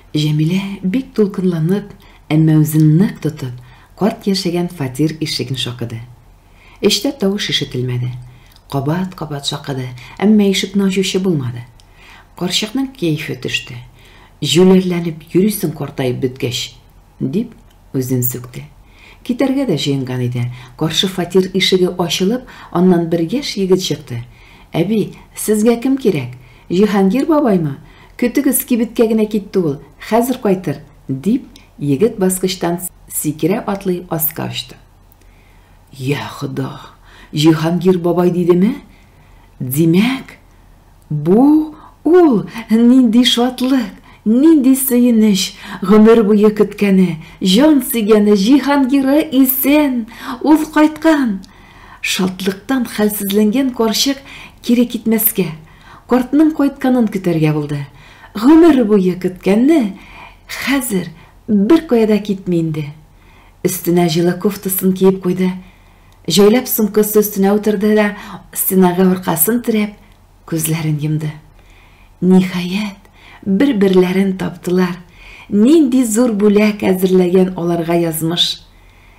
Җәмилә бик дулкынланып, әмма үзен нык тотып, карт яшәгән фатир ишеген шакыды. Эчтә тавыш ишетелмәде. Кабат-кабат шакыды, әмма ишекне ачучы булмады. Карчыкның кәефе төште. Җүләрләнеп йөрисең картаеп беткәч, дип үзен сүкте. Китәргә дә җыенган иде, каршы фатир ишеге ачылып, аннан бер яшь егет чыкты. Әби, сезгә кем кирәк? Җиһангир бабаймы? Көтегез, кибеткә генә китте ул, хәзер кайтыр, дип, егет баскычтан сикерә-атлый аска очты. Йә Хода, Җиһангир бабай дидеме? Димәк, бу ул! Нинди шатлык, нинди сөенеч! Гомер буе көткәне, җан сөйгәне Җиһангиры исән! Ул кайткан! Шатлыктан хәлсезләнгән карчык кире китмәскә, картның кайтканын көтәргә булды. Гомер буе көткәнне хәзер беркая да китми инде. Өстенә җылы кофтасын киеп куйды. Җәйләп сумкасы өстенә утырды да, стенага аркасын терәп, күзләрен йомды. Ниһаять, бер-берләрен таптылар. Нинди зур бүләк әзерләгән аларга язмыш!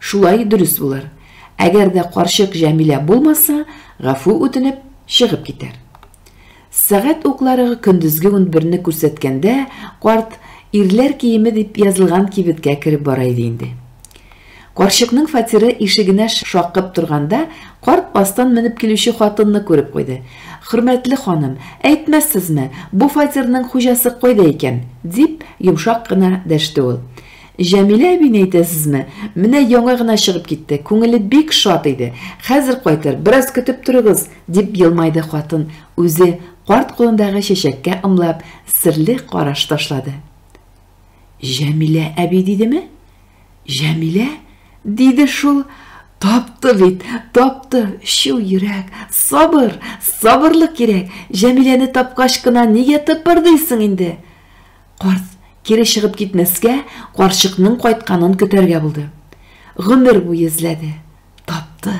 Шулай дөрес булыр. Әгәр дә карчык Җәмилә булмаса, гафу үтенеп, чыгып китәр. Сәгать уклары көндезге унберне күрсәткәндә, карт ирләр киеме дип язылган кибеткә кереп бара иде инде. Карчыкның фатиры ишегенә шакып торганда, карт астан менеп килүче хатынны күреп куйды. Хөрмәтле ханым, әйтмәссезме, бу фатирның хуҗасы кайда икән? дип, йомшак кына дәште ул. Җәмилә әбине әйтәсезме? Менә яңа гына чыгып китте, күңеле бик шат иде. Хәзер кайтыр, бераз көтеп торыгыз, дип елмайды хатын, үзе, карт кулындагы чәчәккә ымлап, серле караш ташлады. Җәмилә әби дидеме? Җәмилә? Диде шул. Тапты бит, тапты, чу йөрәк, сабыр, сабырлык кирәк. Җәмиләне тапкач кына нигә тыпырдыйсың инде? Карт, кире чыгып китмәскә, карчыкның кайтканын көтәргә булды. Гомер буе эзләде. Тапты.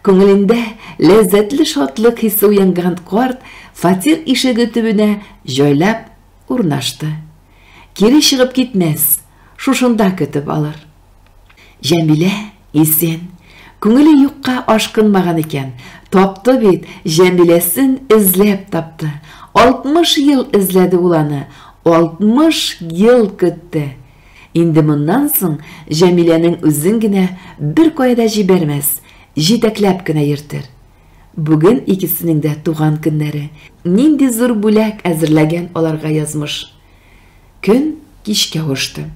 Күңелендә ләззәтле шатлык хисе уянган карт фатир ишеге төбенә җайлап урнашты. Кире чыгып китмәс, шушында көтеп алыр. Җәмилә, исән. Күңеле юкка ашкынмаган икән. Тапты бит, Җәмиләсен эзләп тапты. Алтмыш ел эзләде ул аны, алтмыш ел көтте. Инде моннан соң Җәмиләнең үзен генә беркая да җибәрмәс, җитәкләп кенә йөртер. Бүген икесенең дә туган көннәре. Нинди зур бүләк әзерләгән аларга язмыш! Көн кичкә очты.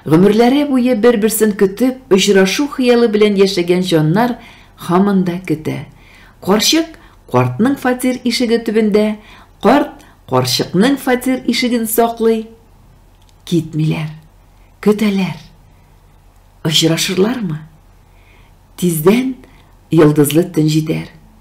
Гомерләре буе бер-берсен көтеп, очрашу хыялы белән яшәгән җаннар һаман да көтә. Карчык картның фатир ишеге төбендә, карт карчыкның фатир ишеген саклый. Китмиләр, көтәләр. Очрашырлармы? Тиздән йолдызлы төн җитәр.